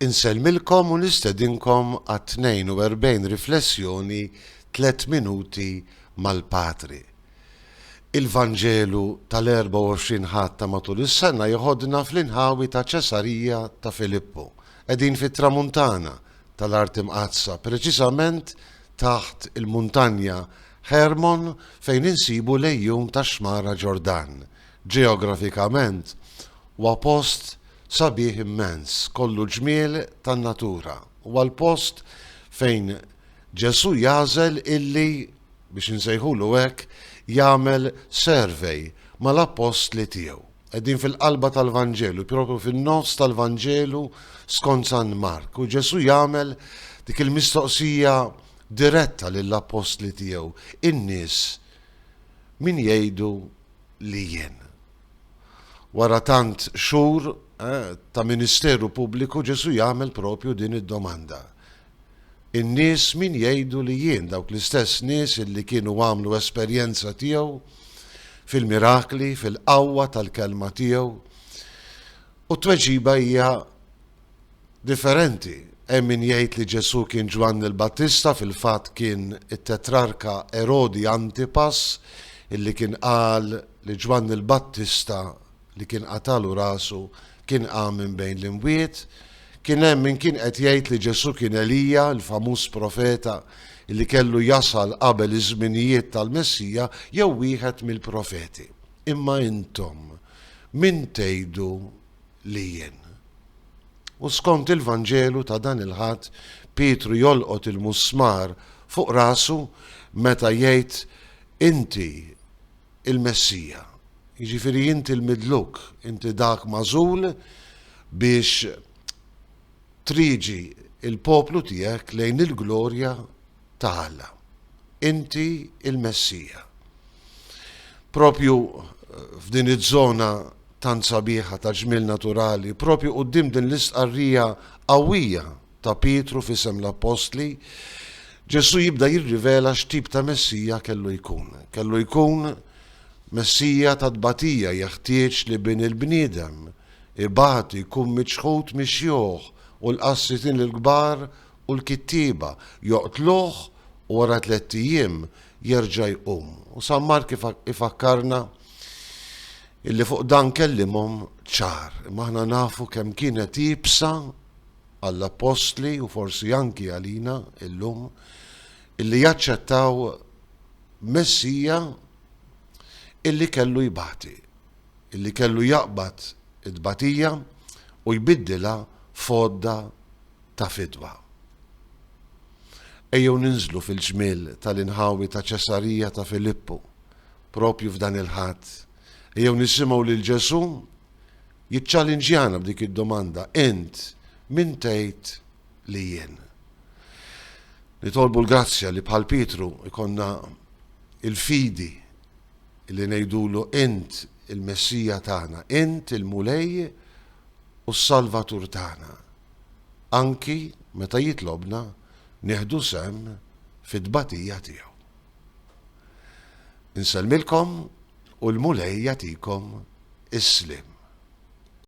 Insellmilkom u nistedinkom għat-42 riflessjoni Tliet Minuti mal-Patri. Il-Vanġelu tal-24 Ħadd ta' matul is-sena jeħodna fl-inħawi ta' Ċesarija ta' Filippu. Qegħdin fit-Tramuntana tal-Art Imqaddsa, preċiżament taħt il-muntanja Ħermon fejn insibu l-għejun tax-Xmara Ġordan, Ġeografikament huwa post sabiħ immens, kollu ġmiel tan-natura. Huwa l-post fejn Ġesù jagħżel illi, biex insejħulu hekk, jagħmel survey mal-appostli tiegħu. Qegħdin fil-qalba tal-Vanġelu, propju fin-nofs tal-Vanġelu skont San Mark, u Ġesù jagħmel dik il-mistoqsija diretta lill-appostli tiegħu, In-nies min jgħidu li jien. Wara tant xhur ta' ministeru pubbliku Ġesù jagħmel propju din id-domanda. In-nies min jgħidu li jien, dawk l-istess nies illi kienu għamlu esperjenza tiegħu fil-mirakli, fil-qawwa tal-kelma tiegħu? U t-tweġiba hija differenti. Hemm min jgħid li Ġesù kien Ġwanni l-Battista, fil-fatt kien it-tetrarka Erodi Antipas illi kien qal li Ġwanni l-Battista li kien qatalu rasu kien qam minn bejn l-imwiet. Kien hemm min kien qed jgħid li Ġesù kien Elija, il-famuż profeta illi kellu jasal qabel iż-żminijiet tal-Messija jew wieħed mill-profeti. Imma intom min tgħidu li jien. U skont il-Vanġelu ta' dan il-Ħadd, Pietru jolqot il-musmar fuq rasu meta jgħid Inti il-Messija, jiġifieri inti l-midluk, inti dak magħżul biex triġi l-poplu tiegħek lejn il-glorja ta' Alla. Inti l-Messija. Propju f'din iż-żona tant sabiħa ta' ġmiel naturali, propju quddiem din l-istqarrija qawwija ta' Pietru f'isem l-appostli, Ġesù jibda jirrivela x'tip ta' Messija kellu jkun. Kellu jkun Messija ta' tbatija, jeħtieġ li Bin il-bniedem ibati, jkun miċħud mix-xjuħ u l-qassitin il-kbar u l-kittieba joqtluh u wara tlett ijiem jerġa' jqum. U San Mark ifakkarna illi fuq dan kellimhom ċar. Imma aħna nafu kemm kienet iebsa għall-appostli u forsi anki għalina illum illi jaċċettaw Messija illi kellu jbati, illi kellu jaqbad it-tbatija u jbiddilha f'għodda ta' fidwa. Ejjew ninżlu fil-ġmiel tal-inħawi ta' Ċesarija ta' Filippu, propju f'dan il-Ħadd. Ejjew nisimgħu lil Ġesù jiċċalinġjana b'dik id-domanda, Int min tgħid li jien? Nitolbu l-grazzja li bħal Pietru jkollna l-fidi li ngħidulu Int il-Messija tagħna, Int il-Mulej u s-Salvatur tagħna. anki meta jitlobna nieħdu sehem fit-tbatija tiegħu. Insellmilkom u l-Mulej jagħtikom is-sliem.